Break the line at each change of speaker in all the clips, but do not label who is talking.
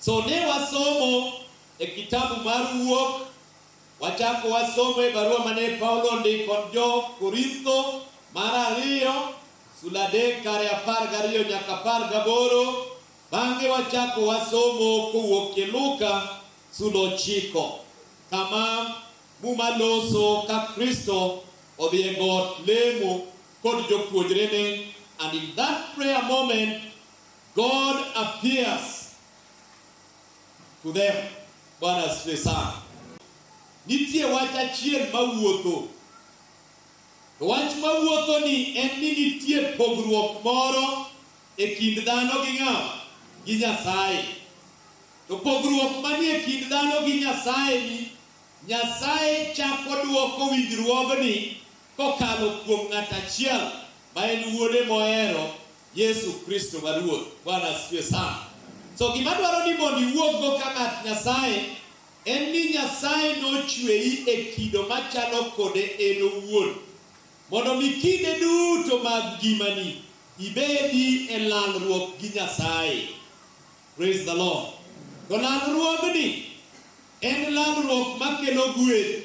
So ne wasomo e kitabu mar Wuok, wachako wasomo e barua mane Paulo ondiko jo Korintho mar ariyo, sula adek kare apar gariyo nyaka apar gaboro. Bang'e wachako wasomo kowuok e Luka sula ochiko, kama Muma loso ka Kristo odhi e got lemo kod jopuonjrene and in that prayer moment God appears to them. Bwana asifiwe sana. Nitie wach achiel mawuotho. To wach mawuotho ni en ni nitie pogruok moro e kind dhano gi ng'a gi Nyasaye. To pogruok manie kind dhano gi Nyasaye ni Nyasaye chako duoko winjruogni kokalo kuom ng'at achiel ma en wuode mohero Yesu Kristo ma Ruoth. Bwana asifiwe sana. So gima dwaro ni mondo iwuoggo ka ng'at Nyasaye en ni Nyasaye nochweyi e kido machalo kode en owuon mondo mi kinde duto mag ngimani ibedi e lalruok gi Nyasaye. Praise the Lord. To lalruogni en lalruok makelo gweth.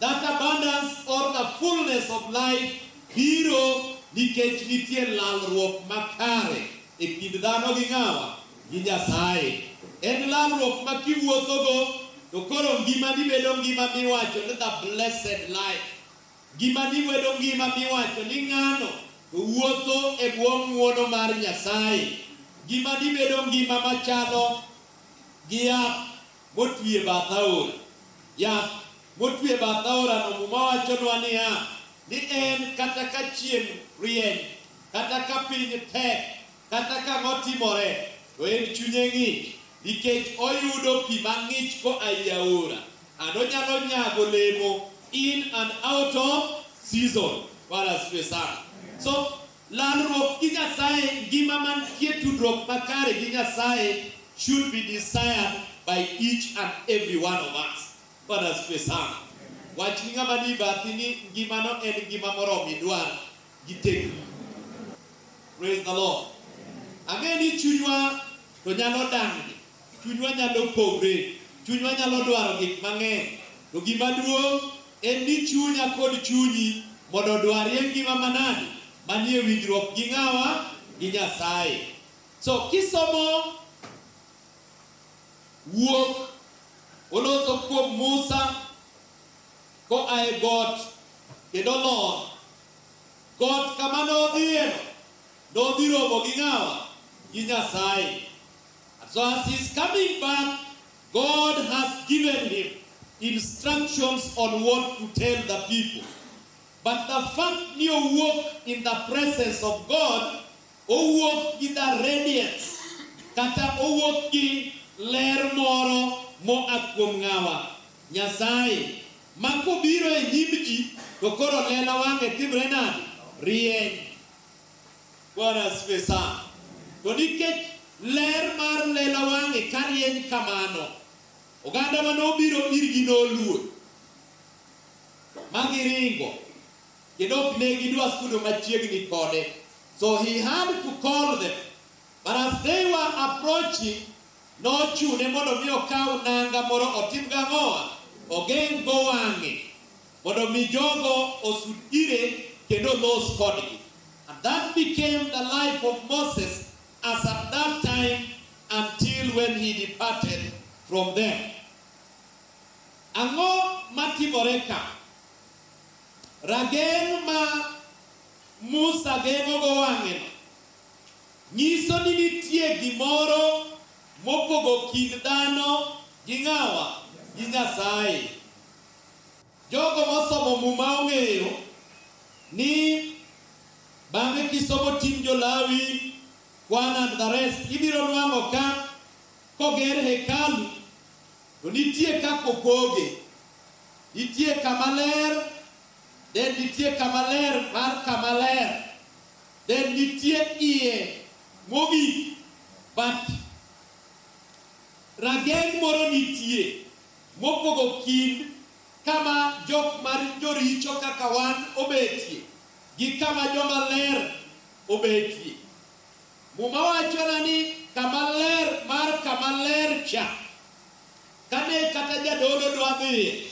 That abundance or a fullness of life biro nikech nitie lalruok makare e kind dhano gi ng'awa? Gi Nyasaye. En lalruok ma kiwuothogo to koro ngimani bedo ngima miwacho ni the blessed life. Ngimani bedo ngima miwacho ni ng'ano to wuotho e bwo ng'uono mar Nyasaye. Ngimani bedo ngima machalo gi yath. motwi e bath aora. Yath motwi e bath aorano Muma wachonwa niya, ni en kata ka chieng' rieny, kata ka piny tek, kata ka ang'o timore, to en chunye ng'ich nikech oyudo pi mang'ich koa ei aora, and onyalo nyago olemo in and out of season. Bwana asifiwe sana. So, Lalruok gi Nyasaye, ngima mantie tudruok makare gi Nyasaye should be desired by each and every one of us. Bwana asifiwe sana. Wach ni ng'ama ni bathi ni ngimano en ngima moromo idwar gi tekni. Praise the Lord. Ang'e ni chunywa to nyalo dang'ni Chunywa nyalo pogre, chunywa nyalo dwaro gik mang'eny, to gima duong' en ni chunya kod chunyi mondo odwarie ngima manade? Manie winjruok gi ng'awa? Gi Nyasaye. So kisomo wuok oloso kuom Musa koa e got kendo lor got kama nodhiyeno, nodhi romo gi ng'awa? Gi Nyasaye. And so as he's coming back, God has given him instructions on what to tell the people. But the fact you walk in the presence of God, o walk in the radiance, kata o walk in ler moro mo akwom ngawa. Nyasaye, mako biro e nyimji, to koro lela wange timre nadi? Rieny. Bwana asifiwe sana. To nikech ler mar lela wang'e ka rieny kamano, oganda ma nobiro irgi noluor ma giringo, kendo ok ne gidwa sudo machiegni kode. So he had to call them. But as they were approaching, nochune mondo mi okaw nanga moro otim gang'owa, ogeng'go wang'e. mondo mi jogo osud ire kendo los kodgi. And that became the life of Moses as at that time until when he departed from them. Ang'o matimore ka? Rageng' ma Musa geng'ogo wang'eno nyiso ni nitie gimoro mopogo kind dhano gi ng'awa gi Nyasaye. Jogo mosomo Muma ong'eyo ni bang'e kisomo Tim Jo-Lawi, Kwan and the rest, ibiro nwang'o ka koger hekalu to nitie kaka opoge. Nitie kama ler, then nitie kama ler mar kama ler, then nitie iye mogik but rageng' moro nitie. Mopogo kind kama jok ma joricho kaka wan obetie gi kama joma ler obetie. Muma wachona ni kama ler mar kama ler cha, kane kata jadolo dwa dhiye,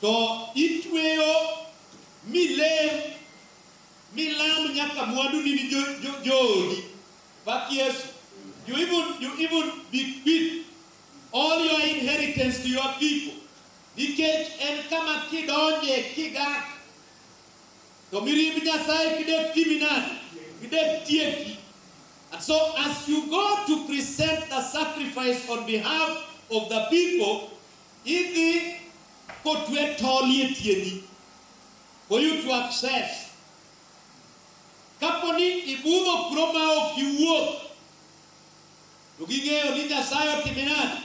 to itweyo milem milam nyaka mwanduni ni jo, jo, joodi. Pak Yesu. You even, you even be quit All your inheritance to your people. Nikech en kama kidonje kigak to mirimb Nyasaye kidek timi nade? Kidek tieki. And so as you go to present the sacrifice on behalf of the people, idhi kotwe tol e tiendi for you to access. Kapo ni ibudho kuro ma ok iwuok To ging'eyo ni Nyasaye otime nade?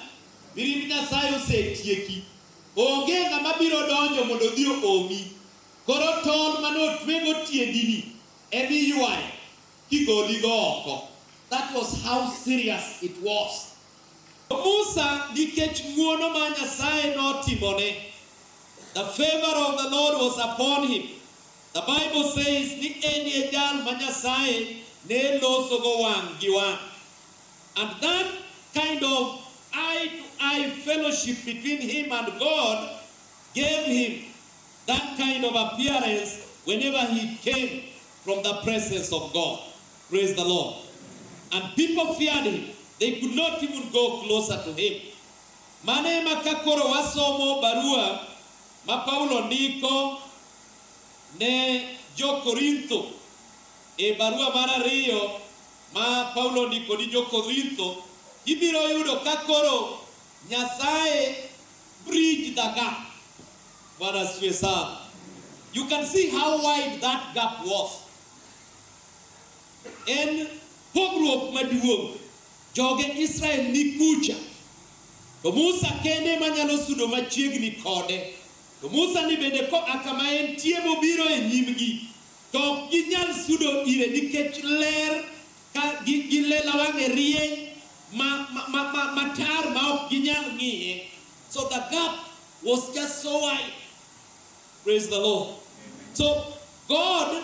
Mirimb Nyasaye osetieki. Onge ng'ama biro donjo mondo odhi oomi. Koro tol mane otwego tiendini ema iywayo kigoligo oko. That was how serious it was. Musa nikech ng'uono ma Nyasaye notimone, the favor of the Lord was upon him. The Bible says ni en e jal ma Nyasaye ne losogo wang' gi wang'. And that kind of eye to eye fellowship between him and God gave him that kind of appearance whenever he came from the presence of God. Praise the Lord. And people feared him. They could not even go closer to him. Mane ma ka koro wasomo barua ma Paulo ndiko Ne Jo-Korintho. E barua mar ariyo ma Paulo ondiko ni Jo-Korintho, ibiro yudo ka koro Nyasaye bridge the gap. Bwana asifiwe sana. You can see how wide that gap was. En pogruok maduong'. Joge Israel ni kucha. To Musa kende manyalo sudo machiegni kode. To Musa ni bende koa kama entie mobiro e nyimgi, to ok ginyal sudo ire nikech ler ka gi, gi lela wang'e rieny ma, ma, ma, ma, matar ma ok ginyal ng'iye. So the gap was just so wide. Praise the Lord. So God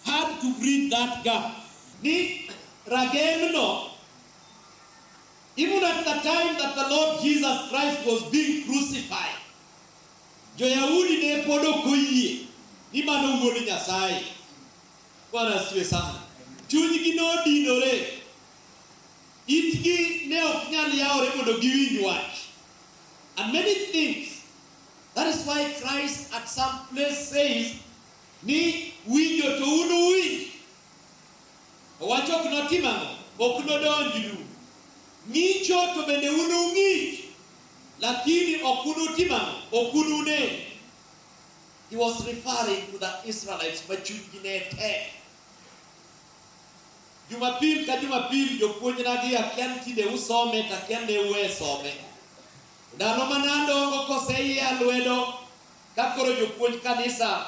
had to bridge that gap. Ni ragemno Even at the time that the Lord Jesus Christ was being crucified, Jo-Yahudi ne pod ok oyie ni mano wuod Nyasaye. Bwana asifiwe sana. Chunygi nodinore. Itgi ne ok nyal yawore mondo giwinj wach. And many things. That is why Christ at some place says ni winjo to unuwinj Owacho ok notim ang'o? Ok nodonjnu. Ng'icho to bende unung'ich, lakini ok unutim ang'o? Ok unune. He was referring to the Israelites ma chunygi ne tek. Jumapil ka Jumapil jopuonjnagi akia ni tinde usome to akia ne uwe some. Ndalo mane adongo koseyia lwedo Ka koro jopuonj kanisa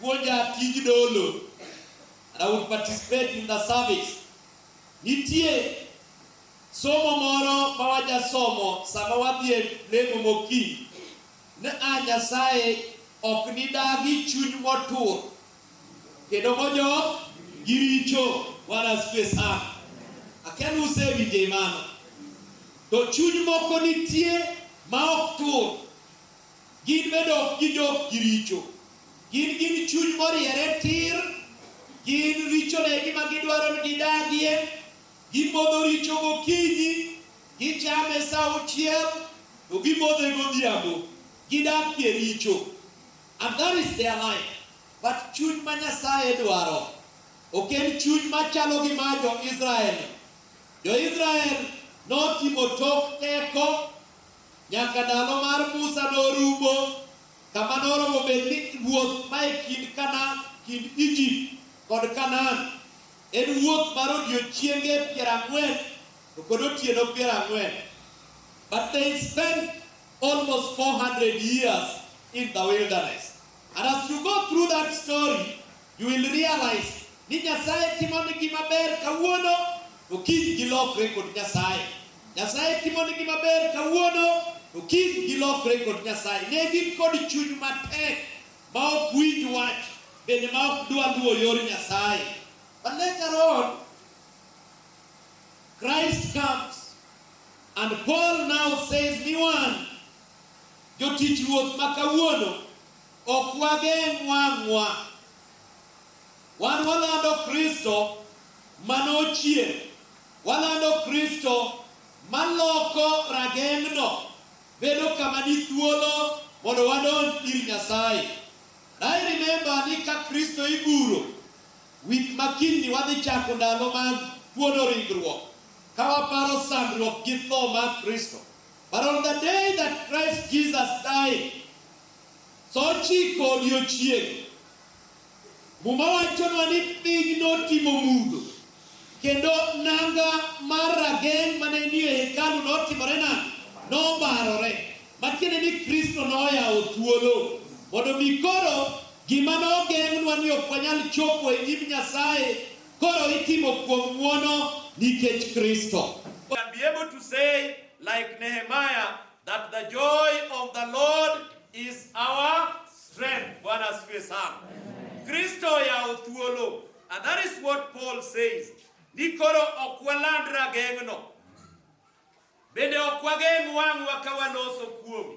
puonja tij dolo and I would participate in the service. Nitie somo moro ma wajasomo sama wadhi e lemo mokinyi ni a Nyasaye ok nidagi chuny motur kendo mojok gi richo. Bwana asifiwe sana. Akia ni usewinje mano. To chuny moko nitie ma ok tur. Gin bende ok gidog gi richo. Gin gin chuny moriere tir, gin richone e gima gidwaro ni gidagie, gimodho richo gokinyi, gichame sa auchiel, to gimodhe godhiambo. Gidakie richo. And that is their life. But chuny ma Nyasaye dwaro ok en chuny machalo gi mar jo-Israel. Jo-Israel notimo tok teko Nyaka ndalo mar Musa norumo, kama noromo bed ni ruoth ma e kind Kana, kind Egypt kod Kanaan, en wuoth mar odiechienge piero ang'wen to kod otieno piero ang'wen. But they spent almost 400 years in the wilderness. And as you go through that story, You will realize ni Nyasaye timo ni gima ber kawuono to kiny gilokre kod Nyasaye. Nyasaye timo ni gima ber kawuono to kiny gilokre kod Nyasaye. Ne gin kod chuny matek ma ok winj wach bende ma ok dwa luwo yor Nyasaye. But later on, Christ comes and Paul now says ni wan jotich ruoth ma kawuono Ok wageng' wang'wa. Wan walando Kristo ma nochier. Walando Kristo ma loko rageng'no bedo kama ni thuolo mondo wadonj ir Nyasaye. And I remember ni ka Kristo iguro, week ma kinyni wadhi chako ndalo mag kuodo ringruok ka waparo sandruok gi tho mar Kristo. But on the day that Christ Jesus died, Sa ochiko odiechieng'. Muma wachonwa ni piny notimo mudho, kendo nanga mar rageng' ma ne nie hekalu notimore nade? Nobarore, ma tiende ni Kristo noyawo thuolo mondo mi koro gima nogeng'nwa ni ok wanyal chopo e nyim Nyasaye koro itimo kuom ng'wono nikech Kristo. Be able to say like Nehemiah That the joy of the Lord is our strength. Bwana asifiwe sana. Kristo yawo thuolo. And that is what Paul says. Ni koro ok waland rageng'no. Bende ok wageng' wang'wa ka waloso kuome.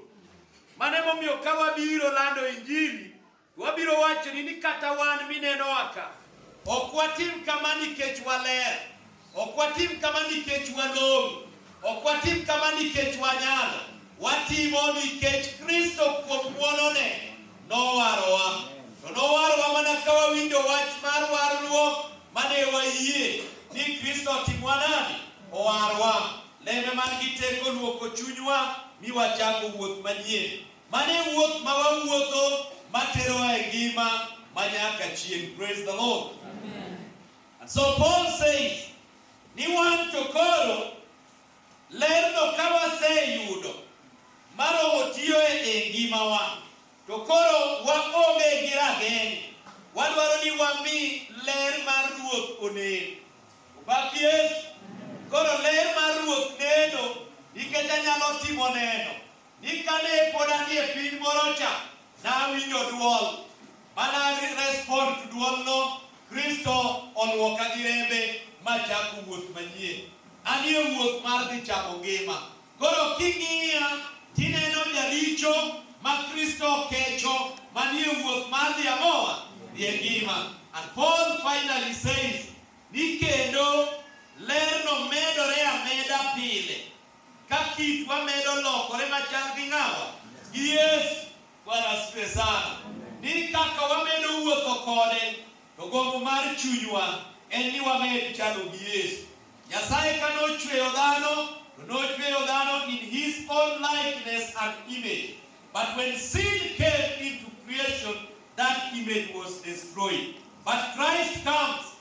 Mano emomiyo ka wabiro lando Injili, Wabiro wachoni ni kata wan minenowa ka, ok watim kama nikech waler, ok watim kama nikech walong'o, ok watim kama nikech wanyalo, watimo nikech Kristo kuom ng'wonone nowarowa. To nowarowa mana ka wawinjo wach mar warruok mane wayie ni Kristo otimwa nadi? Owarwa. Lembe man gi teko luoko chunywa mi wachako wuoth manyien. Mano e wuoth ma wawuotho materowa e ngima ma nyaka chieng'. Praise the Lord. Amen. And so Paul says, ni wan to koro lerno ka waseyudo maromo tiyoe e ngimawa to koro waonge gi rageng' wadwaro ni wami ler mar ruoth onen obak yesu koro ler mar ruoth neno nikech anyalo timo neno Ni kane pod anie piny moro cha, nawinjo dwol, mana respond to dwolno, Kristo olwoka gi rembe ma chako wuoth manyien. Anie wuoth mar dhi chako ngima. Koro king'iya tineno jaricho ma Kristo kecho manie wuoth mar dhi ang'owa dhi e ngima. And Paul finally says ni kendo lerno medore ameda pile. Ka kitwa medo lokore machal gi ng'awa gi Yesu, Bwana asifiwe sana, ni kaka wamedo wuotho kode to gombo mar chunywa en ni wamed chalo gi Yesu. Nyasaye ka nochweyo dhano to nochweyo dhano in his own likeness and image but when sin came into creation that image was destroyed but Christ comes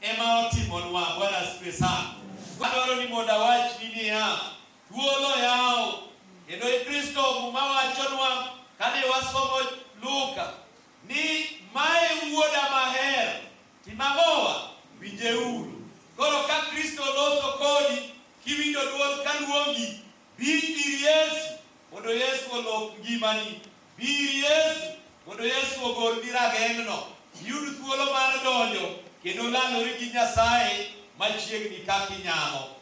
ema otimonwa. Bwana asifiwe sana. Adwaro ni mondo awachni niya, thuolo oyaw kendo e Kristo Muma wachonwa kane wasomo Luka ni mae wuoda maher timamowa winjeuru. Koro ka Kristo loso kodi kiwinjo dwol kaluongi Bi ir Yesu mondo Yesu olok ngimani. Bi ir Yesu mondo Yesu ogolni rageng'no, iyud thuolo mar donjo kendo landori gi Nyasaye machiegni kaka inyalo.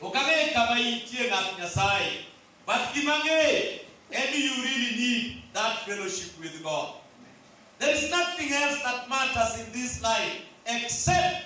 Ok ang'e kama intie ng'at Nyasaye, but gima ang'eyo en ni you really need that fellowship with God. There is nothing else that matters in this life except